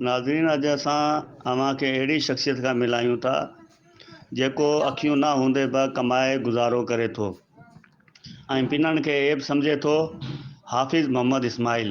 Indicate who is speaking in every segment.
Speaker 1: ناظرين اڄ اسان اوهان کي اهڙي شخصيت کان ملايون ٿا جيڪو اکيون نه هوندي به ڪمائي گذارو ڪري ٿو ۽ پنڻ کي عيب سمجهي ٿو حافظ محمد اسماعيل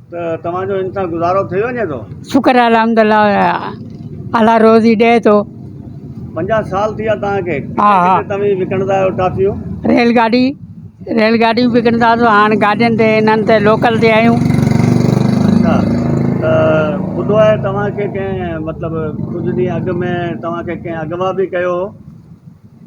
Speaker 2: ته توهان
Speaker 1: جو هن سان گذارو ٿي وڃي ٿو. شڪر آهي الحمدالله
Speaker 2: الله روزي ڏئي ٿو. پنجاهه
Speaker 1: سال ٿي ويا توهان کي ڪٿي ڪٿي توهين
Speaker 2: وڪڻندا آهيو
Speaker 1: ٽافيون. ريل گاڏي ريل
Speaker 2: گاڏيون وڪڻندا هئاسون هاڻ گاڏين تي هنن تي لوڪل تي آهيون. اچا
Speaker 1: ته ٻڌو آهي توهان کي ڪنهن مطلب ڪجهه ڏينهن اڳ ۾ توهان کي ڪنهن اغوا به ڪيو هو.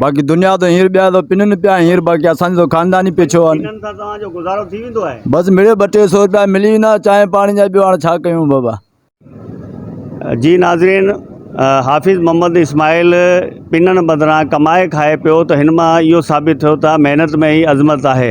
Speaker 3: باقي دنيا ته ھينئر ٻيا ته پنن پيا ھينئر باقي اسان جو خاندان ئي پڇيو آھي ھنن سان توھان جو گذارو
Speaker 1: ٿي ويندو آھي بس مڙيئي ٻه ٽي سئو
Speaker 3: روپيا ملي ويندا چانھه پاڻي جا ٻيو ھاڻ ڇا ڪيون بابا.
Speaker 1: جي ناظرين حافظ محمد اسماعيل پنن بدران ڪمائي کائي پيو ته ھن مان اھو ثابت ٿيو ته محنت ۾ ئي عظمت آھي.